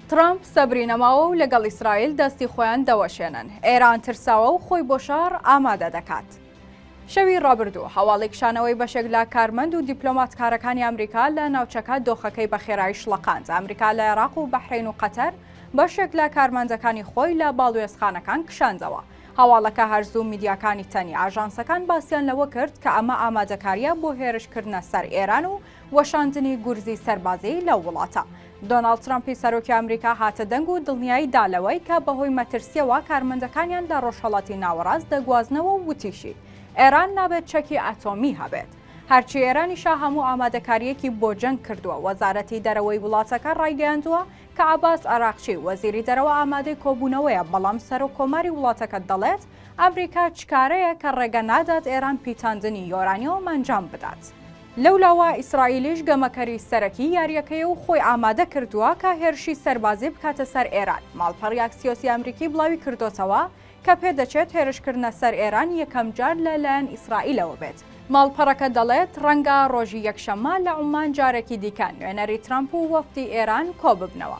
تڕەمپ سەبری نەماوە و لەگەڵ ئیسرائیل دەستی خۆیان دەوەشێنن ئێران ترساوە و خۆی بۆ شەڕ ئامادە دەکات. شەوی ڕابردوو هەواڵی کشانەوەی بەشێک لە کارمەند و دیپلۆماتکارەکانی ئەمریکا لە ناوچەکە دۆخەکەی بە خێرایی شڵەقاند ئەمریکا لە عێراق و بەحرین و قەتەر بەشێک لە کارمەندەکانی خۆی لە باڵوێزخانەکان کشاندەوە هەواڵەکە هەرزوو میدیاکانی تەنی ئاژانسەکان باسییان لەوە کرد کە ئەمە ئامادەکاریە بۆ هێرشکردنە سەر ئێران و وەشاندنی گورزی سەربازیی لەو وڵاتە. دۆناڵد ترەمپی سەرۆکی ئامریکا هاتە دەنگ و دڵنیایی دا لەوەی کە بەهۆی مەترسییەوە کارمەندەکانیان لە ڕۆژهەڵاتی ناوەڕاست دەگوازنەوە و وتیشی، ئێران نابێت چەکی ئەتۆمی هەبێت. هەرچی ئێرانیشە هەموو ئامادەکارییەکی بۆ جەنگ کردووە. وەزارەتی دەرەوەی وڵاتەکە ڕایگەیاندووە کە عەباس عەراقچی، وەزیری دەرەوە ئامادەی کۆبوونەوەیە، بەڵام سەرۆک کۆماری وڵاتەکە دەڵێت، ئامریکا چکارەیە کە ڕێگە نادات ئێران پیتاندنی یۆرانیۆم ئەنجام بدات. لەولاوە ئیسرائیلیش گەمەکەری سەرەکی یارییەکەیە و خۆی ئامادە کردووە کە هێرشی سەربازی بکاتە سەر ئێران. ماڵپەڕی ئاکسیۆسی ئەمریکی بڵاوی کردۆتەوە کە پێدەچێت هێرشکردنە سەر ئێران یەکەم جار لە لایەن ئیسرائیلەوە بێت. ماڵپەڕەکە دەڵێت ڕەنگە ڕۆژی یەکشەممە لە عوممان جارێکی دیکە نوێنەری ترەمپ و وەفدی ئێران کۆببنەوە.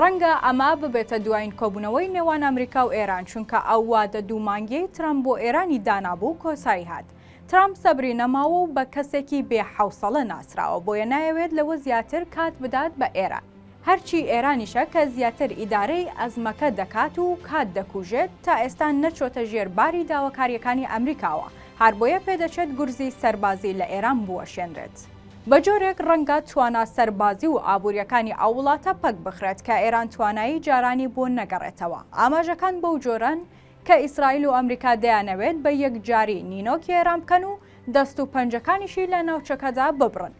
ڕەنگە ئەمە ببێتە دوایین کۆبوونەوەی نێوان ئەمریکا و ئێران چونکە ئەو وادە دوو مانگیەی ترەمپ بۆ ئێرانی دانابوو کۆتایی هات. ترامپ سەبری نەماوە و بە کەسێکی بێ حەوسەڵە ناسراوە، بۆیە نایەوێت لەوە زیاتر کات بدات بە ئێران. هەرچی ئێرانیشە کە زیاتر ئیدارەی ئەزمەکە دەکات و کات دەکوژێت، تا ئێستا نەچۆتە ژێر باری داواکارییەکانی ئەمریکاوە، هاربۆیە پێدەچێت گورزی سەربازی لە ئێران بوەشێنرێت، بە جۆرێک ڕەنگە توانا سەربازی و ئابوورییەکانی ئەو وڵاتە پەک بخرێت کە ئێران توانایی جارانی بۆ نەگەڕێتەوە. ئاماژەکان بەو جۆرەن، کە ئیسرائیل و ئەمریکا دەیانەوێت بە یەکجاری نینۆکی ئێران بکەن و دەست و پەنجەکانیشی لە ناوچەکەدا ببڕن.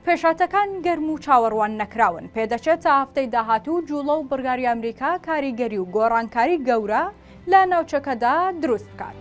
پێشهاتەکان گەرم و چاوەڕوان نەکراون، پێدەچێت تا هەفتەی داهاتوو جووڵە و بڕیاری ئەمریکا کاریگەری و گۆڕانکاری گەورە لە ناوچەکەدا دروست بکات.